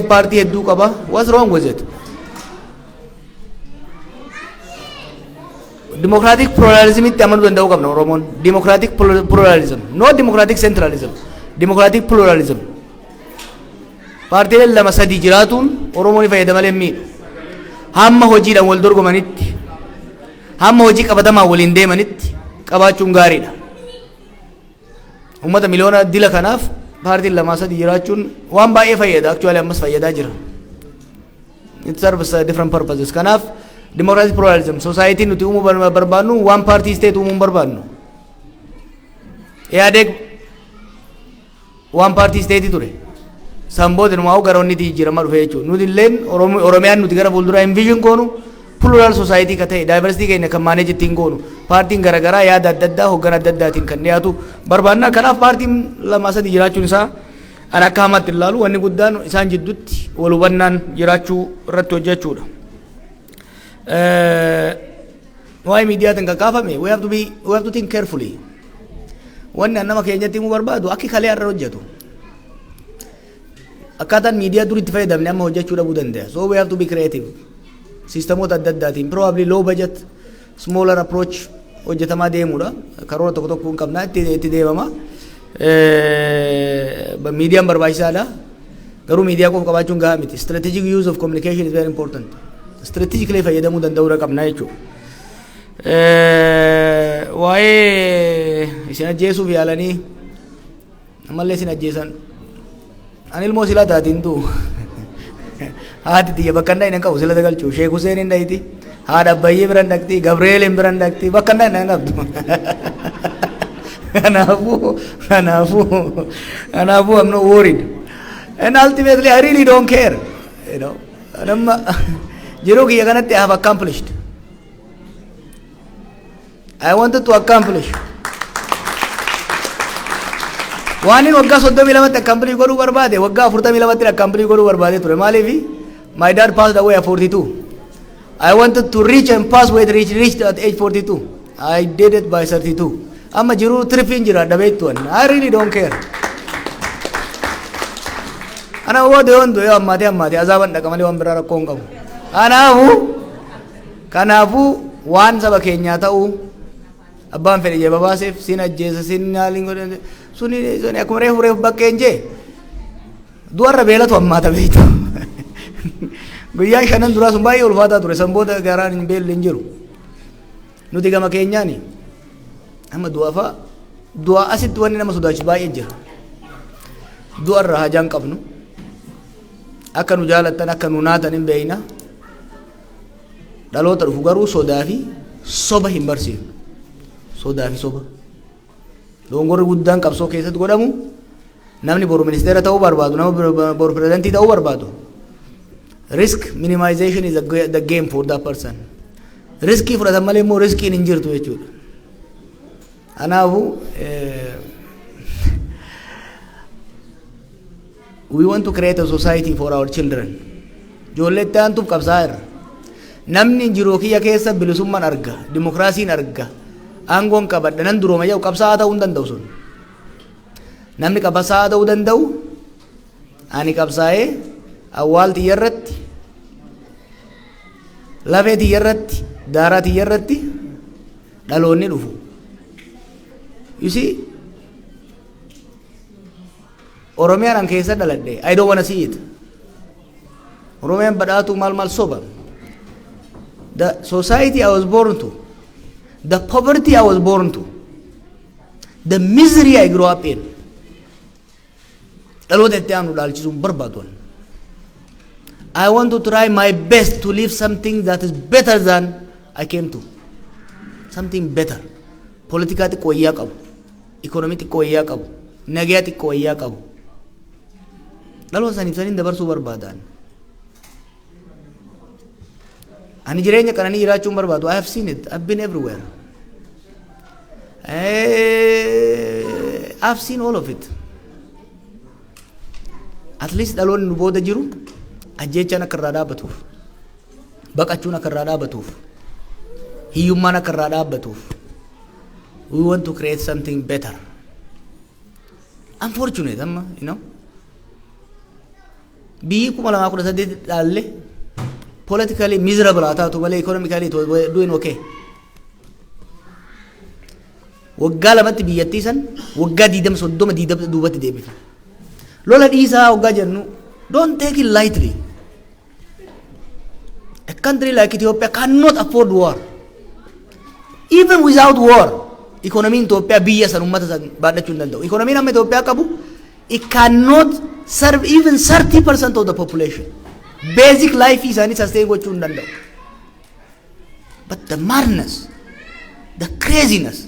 paartii hedduu qaba what's wrong with it democratic pluralism itti amanuu danda'uu qabna oromoon democratic plur- pluralism no democratic centralism democratic pluralism paartiileen lama sadii jiraatuun oromoon ni fayyada malee hin miidhu hamma hojiidhaan wal dorgomanitti hamma hojii qabatamaan waliin deemanitti qabaachuun gaariidha Uummata miliyoona dila kanaaf paartiin lamaa sadii jiraachuun waan baay'ee fayyada. Aktuwaalii ammas fayyadaa jira. It serves uh, different purposes. Kanaaf democratic pluralism society nuti uumuu bar- barbaannu waan paartii state uumuu hin barbaannu. Ihaadeg waan paartii state ture. San booda numaa'u gara onniti jijjiiramaa dhufe jechuudha. Nuti illeen Oromi- Oromiyaan nuti gara fuulduraa envision goonu Plural society ka ta'e, diversity keenya kan manage ittiin goonu, paartiin garagaraa yaada adda addaa hoggana adda addaatiin kan dhiyaatu barbaanna. Kanaaf paartiin lamaa sadii jiraachuun isaa ani akka hamaatti hin laalu. Wanni guddaan isaan jidduutti wal hubannaan jiraachuu irratti hojjechuudha. Waa'ee miidiyaatiin kan kaafame we have to be we have to think carefully. Wanni an nama keenyatti himuu barbaadu akki kalee har'a hojjetu. Akkaataan miidiyaa dur itti fayyadamne amma hojjechuu dhabuu danda'a. So we have to be creative. Siistemoota adda addaatiin probably low budget, smaller approach hojjetamaa deemuudha. Karoora tokko tokko hin qabna itti itti deemama. Miidiyaan barbaachisaadha. Garuu miidiyaa qofa qabaachuun gahaa miti. Strategic use of communication is very important. Strategically fayyadamuu danda'uudha qabna jechuudha. Waa'ee isin ajjeesuuf yaalanii Ammallee sin ajjeesan. Ani ilmoo silaa taati hin du'u. Haati tiyya bakka hin dhaqne hin qabu silata galchuu. Sheek Huseen hin dhaqti. Haadha Abbayyee bira hin dhaqti. Gabri'eel hin bira hin dhaqti. Bakka hin dhaqne hin qabdu. Kanaafuu kanaafuu kanaafuu I'm not worried. And ultimately I really don't care. You know. Nama jiruu kiyya kanatti I have accomplished. I wanted to accomplish. Waanin waggaa 32tti accomplish godhuu barbaade waggaa 42tti accomplish godhuu barbaade ture maaliif my dad passed away at 42. I wanted to reach and pass where it reached, reached at age 42. I did it by 32. Amma jiruu tirfiin jira dhabeettuwan. I really don't care. Ana woo doyoon doyoo ammaatee ammaatee azaaban dhaqa malee waan biraa rakkoo hin qabu. Kanaafu Kanaafuu waan saba keenyaa ta'uu abbaan fedhe jee babaaseef sin ajjeesa sin naaliin godhe suni suni akkuma reefu reefu bakkeen jee du'arra beelatu ammaata beektu. Guyyaan shanan duraa sun baay'ee ulfaataa ture san booda garaan hin beelli hin jiru. Nuti gama keenyaani amma du'afa du'a asitti wanni nama sodaachisu baay'ee jira. Du'arra hajaan qabnu akka nu jaalattan akka nu naatan hin beekna. Dhaloota dhufu garuu sodaa fi soba hin barsiifnu. Sodaa fi soba. Dogongorri guddaan qabsoo keessatti godhamu namni boru ministeera ta'uu barbaadu, nama boru pirezidantii ta'uu barbaadu. Risk minimization is the game for that person. Riskii fudhatan malee immoo riskiin hin jirtu jechuudha. Kanaafuu We want to create a society for our children. Ijoollee itti aantuuf qabsaa'aa irra. Namni jiruu kiyya keessa bilisummaan arga, dimokiraasiin arga, aangoon qabadha, nan durooma jedhu qabsaa'aa ta'uu hin danda'u sun. Namni qabsaa'aa ta'uu danda'u ani qabsaa'ee awwaal tiyya irratti, lafee tiyya irratti, daaraa tiyya irratti dhaloonni dhufu. You see, Oromiyaan an keessa dhaladhe I don't wanna see it. Oromiyaan badhaatuu maal maal soba. The society I was born to, the poverty I was born to, the misery I grew up in. Dhaloota itti aanu dhaalchisuun barbaadu. I want to try my best to leave something that is better than I came to. Something better. Politikaa xiqqoo iyyaa qabu. Economy xiqqo wayyaa qabu. Nagaya xiqqo wayyaa qabu. Dhaloota saniif saniin dabarsuu barbaadaan. Ani jireenya qananii jiraachuun barbaadu. I have seen it. I've been everywhere. I've seen all of it. At least dhaloonni nu booda jiru ajjeechaan akka irraa dhaabatuuf. Baqachuun akka irraa dhaabatuuf, hiyyummaan akka irraa dhaabbatuuf, we want to create something better. Unfortunate amma, you know. Biyyi kuma lamaa kudha saddeet dhaalle politically miserable haa taatu malee economically it was doing okay. Waggaa lamatti biyyattii san waggaa diidama soddoma diidama duubatti deebifne. Lola dhiisaa waggaa jennu don't take it lightly. A country like Ethiopia cannot afford war. Even without war, economy in Ethiopia biyya san ummata san baadhachuu hin danda'u. Economy amma Ethiopia qabu, it cannot serve even 30% of the population. Basic life isaanii sustain gochuu hin danda'u. But the madness, the craziness,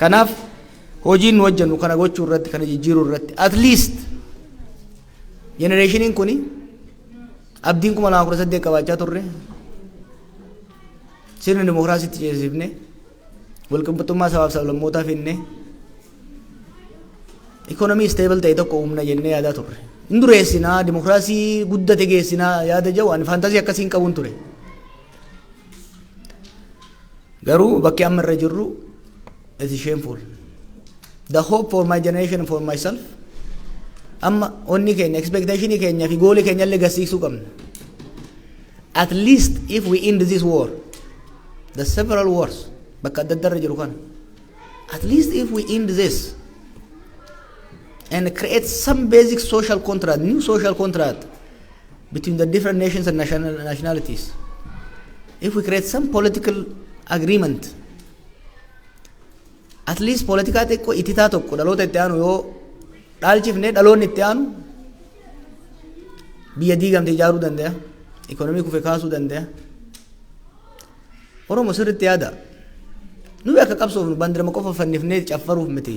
Kanaaf hojiin nu hojjennu kana gochuu irratti kana jijjiiruu irratti at least jenereeshiniin kuni abdiin kuma lama kudha saddeet qabaachaa turre sirna dimokiraasiitti ceesifne walqixxummaa sabaaf sablammootaa finne ikonomii isteebal ta'e tokko uumna jennee yaadaa turre. Hin dureessinaa dimokiraasii guddate geessinaa yaada jedhu ani faantaazii akkasii hin qabun ture. Garuu bakki amma irra jirru it is shameful. The hope for my generation for myself amma onni keenya expectation keenya fi gooli keenya illee garsiisuu qabna. At least if we end this war, the several wars bakka adda addaa irra jiru kana. At least if we end this and create some basic social contract, new social contract between the different nations and national, nationalities. If we create some political agreement, at least politikaa xiqqoo ititaa tokko dhaloota itti aanu yoo dhaalchifne dhaloonni itti aanu biyya diigamte ijaaruu danda'a. Ikonomii kufe kaasuu danda'a. Oromo sirriitti yaada. Nuyi akka qabsoofnu bandirama qofa fannifnee caffaruuf miti.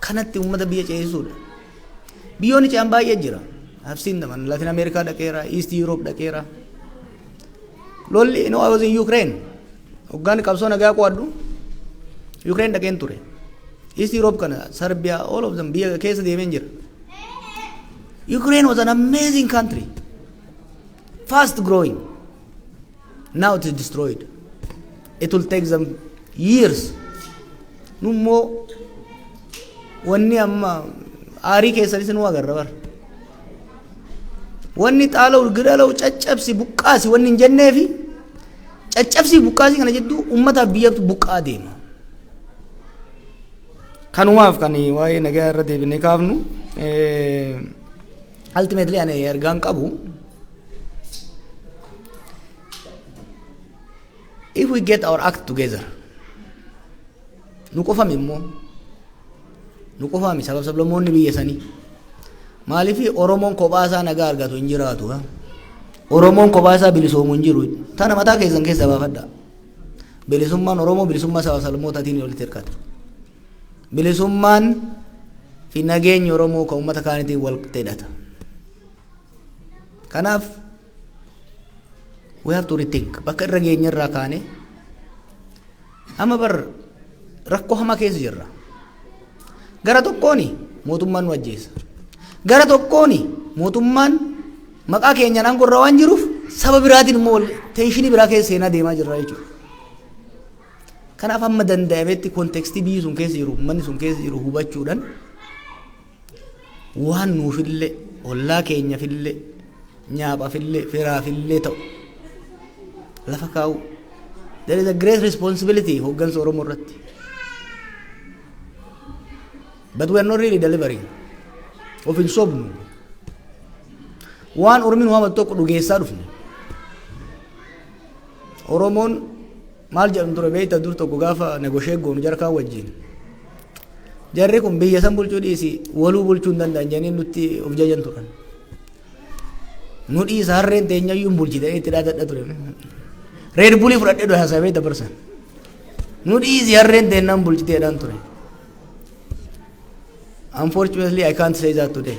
kanatti uummata biyya ceesisuudha. Biyyoonni ce'an baay'ee jira. I've seen them. Ani Latin America dhaqeera, East Europe dhaqeera. Lolli, you know, I was in Ukraine. Hoggaan qabsoo nagaa qo'adhu Ukraine dhaqeen ture. East Europe kana, Serbia, all of them biyya keessa deemeen jira. Ukraine was an amazing country. Fast growing. Now it is destroyed. It will take them years. Nummoo wanni amma aarii keessanis nu agarra bara. Wanni xaala'u gidala'u caccabsi buqqaasi wanni hin jenneefi caccabsi buqqaasi kana jidduu uummataaf biyyatu buqqaa deema. Kanumaaf kan waa'ee nagaa irra deebinee kaafnu. Ultimately ani ergaan qabu if we get our act together nu qofami immoo nu qofami sabab sablammoonni biyya sanii maaliif oromoon kophaa isaa nagaa argatu hin jiraatu ha? oromoon kophaa isaa bilisoomu hin jiru tana mataa keessan keessa baafadha bilisummaan oromoo bilisummaa sabab sablammootatiin walitti hirkata Bilisummaan fi nageenyi Oromoo kan uummata kaanitiin wal qixxeedhata. Kanaaf we have to rethink bakka irra geenye irraa kaane amma bar rakkoo hamaa keessa jirra. Gara tokkooni mootummaan nu ajjeesa. Gara tokkooni mootummaan maqaa keenyaan aangoo irra waan jiruuf saba biraatiin immoo wal teenshinii biraa keessa seenaa deemaa jirra jechuudha. Kanaaf hamma danda'ametti kontekstii biyyi sun keessa jiru, uummanni sun keessa jiru hubachuudhaan waan nuufillee, ollaa keenyafillee, nyaaphaafillee, firaafillee ta'u lafa kaa'u. There is a great responsibility hooggansa Oromoo irratti. But we are not really delivering. Of hin sobnu. Waan Oromiin waamatu tokko dhugeessaa dhufne. Oromoon maal jedhan ture beekta dur tokko gaafa negoshee goonu jarkaan wajjin. Jarri kun biyya san bulchuu dhiisi waluu bulchuu hin danda'an jedhanii nutti of jajan turan. Nu dhiisa harreen teenyayyuu hin bulchite itti dhaadadha ture. Reed bulii fudhadhee dura haasawee dabarsan. Nu dhiisi harreen teennaan bulchiteedhaan ture. Unfortunately, I can't say that today.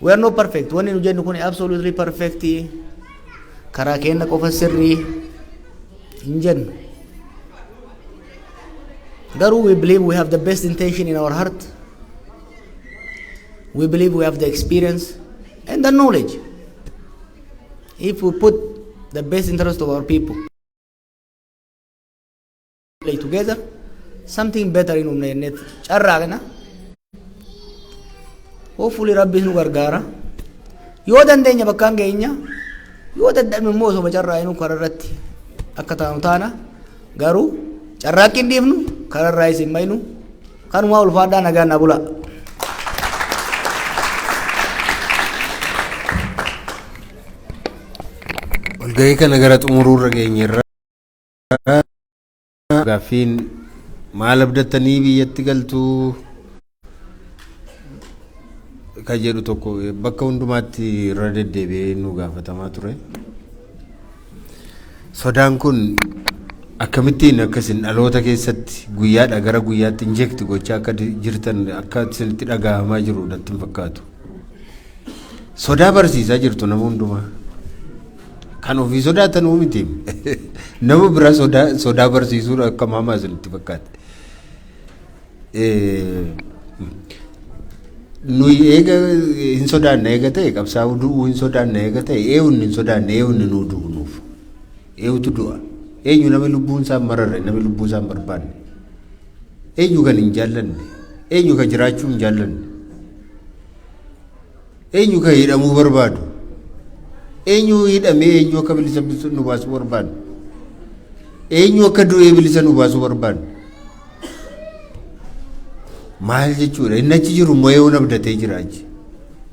We are not perfect. Wanni nu jennu kun absolutely perfect. Karaa keenya qofa sirrii hin jennu. Garuu we believe we have the best intention in our heart. We believe we have the experience and the knowledge. If we put the best interest of our people. play together something better in humna jennee carraa kana hopefully rabbiin nu gargaara yoo dandeenya bakkaan geenya yoo dadhabne immoo osoo carraa inuu karaa irratti akka taanu taana garuu carraaqqiin dhiifnu karaa irraa isin maynu kanumaa ulfaadhaa nagaan na bulaa. Walgahii kana gara xumuruurra geenyerra. gaaffiin maal abdattanii biyyatti galtuu ka jedhu tokko bakka hundumaatti irra deddeebi'ee nu gaafatamaa ture. Sodaan kun akkamittiin akka isin dhaloota keessatti guyyaadha gara guyyaatti injekti gochaa akka jirtan akka isinitti dhagahamaa jiru natti hin fakkaatu. Sodaa barsiisaa jirtu nama hundumaa. Kan ofii sodaatan miti. Nama bira sodaa sodaa barsiisuun akka maamaa isinitti fakkaate. Eh, Nuyi eega hin sodaanne eega ta'e qabsaa'u du'uu hin sodaanne eega ta'e eewunni hin sodaanne eewunni nuu du'u nuuf. Eewutu du'a. Eenyu nama lubbuun isaan mararre nama lubbuu isaan barbaanne. Eenyu kan hin jaallanne? Eenyu kan jiraachuu hin jaallanne? Eenyu kan hidhamuu barbaadu? Eenyu hidhamee eenyu akka bilisa bisu- nu baasuu barbaadu? Eenyu akka du'ee bilisa nu baasuu barbaadu? Maal jechuudha? Inni achi jiru immoo eeyoon abdatee jira achi.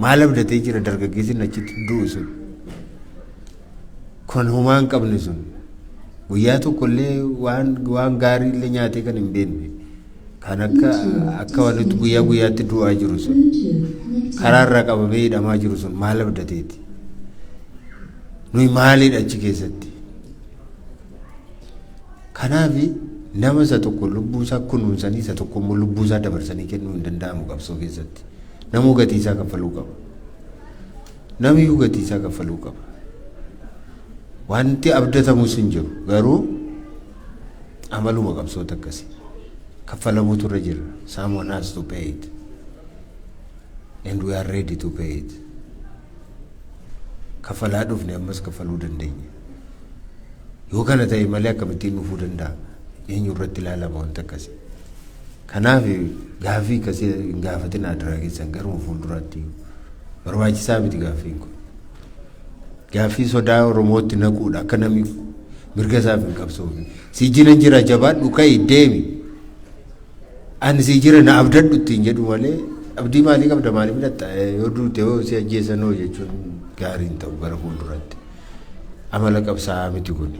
Maal abdatee jira dargaggeessi inni achitti du'u sun? kan homaa hin qabne sun guyyaa tokko illee waan waan gaarii illee nyaatee kan hin beekne kan akka akka wanti guyyaa guyyaatti du'aa jiru sun karaa irraa qabamee hidhamaa jiru sun maal abdateeti nuyi maaliidha achi keessatti kanaaf nama isa tokko lubbuu isaa kunuunsanii isa tokko immoo lubbuu isaa dabarsanii kennuu hin danda'amu qabsoo keessatti namuu gatii isaa kaffaluu qaba. Namiyyuu gatii isaa kaffaluu qaba. Wanti abdatamus hin jiru. Garuu amaluma qabsoota akkasii kaffalamuutu irra jira. Someone has to pay it. And we are ready to pay it. Kaffalaa dhufne ammas kaffaluu dandeenya. Yoo kana ta'e malee akkamittiin dhufuu danda'a? Eenyu irratti ilaalama wanti akkasii? Kanaaf gaaffii akkasii hin gaafatin adaraa keessan garuma fuulduraatti iyyuu. Barbaachisaa miti gaaffiin kun. Gaaffii sodaa Oromootti naquudha akka namni mirga isaaf hin qabsoofne. Sii jiran jira jabaadhu ka'i deemi. Ani sii jira na abdadhu ittiin jedhu malee abdii maalii qabda maaliif hidhatta yoo duute yoo si ajjeesan hoo jechuun gaarii hin ta'u gara fuulduraatti. Amala qabsaa'aa miti kuni.